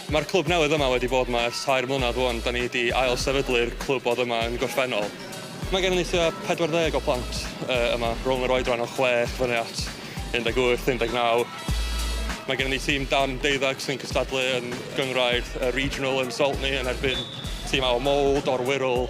Mae'r clwb newydd yma wedi bod yma ers tair mlynedd rwan, da ni wedi ail-sefydlu'r clwb oedd yma yn gorffennol. Mae gennym ni tua 40 o plant yma, rhwng yr oedran o chwech fyny at 18, 19. Mae gennym ni tîm dan deuddeg sy'n cystadlu yn gynghrair y Regional yn Saltney yn erbyn tîmau o Mold, o'r Wirral.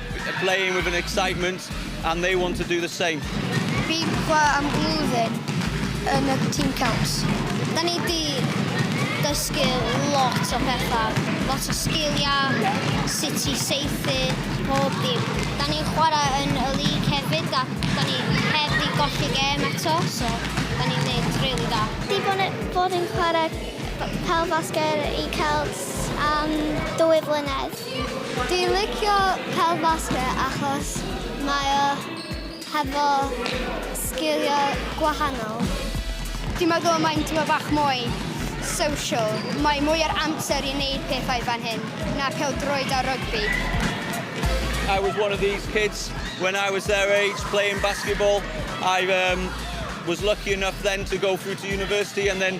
Playing with an excitement and they want to do the same. Pipa am flwyddyn yn y Team Celts. Da ni di dysgu lot o bethau, lot o sgiliau, sut i seithi, pob dim. Da ni'n chwarae yn y lig hefyd a da ni heb di golli gem eto, so da ni'n neud really da. Di bod, bod yn chwarae pel fasger i Celts am dwy flynedd. Dwi licio pêl basged achos mae o hefo sgiliau gwahanol. Dwi'n meddwl y mae'n tyma bach mwy social. Mae mwy ar amser i wneud pethau fan hyn na pêl-droed a rygbi. I was one of these kids when I was their age playing basketball. I was lucky enough then to go through to university and then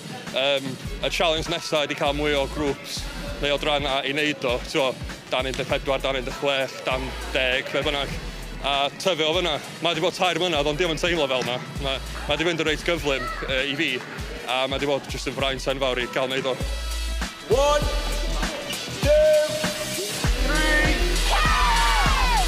Yym, y challenge nesa ydi cael mwy o grwps neu odrana i neud o, t'mo', dan 14, dan 16, dan 10, be' bynnag, a tyfu o fyna. Mae 'di bod tair mlynadd ond 'di o'm yn teimlo fel 'na. Ma' ma' 'di mynd yn reit gyflym yy i fi, a ma' 'di bod jyst yn fraint enfawr i ga'l neud o. One, two, three, four!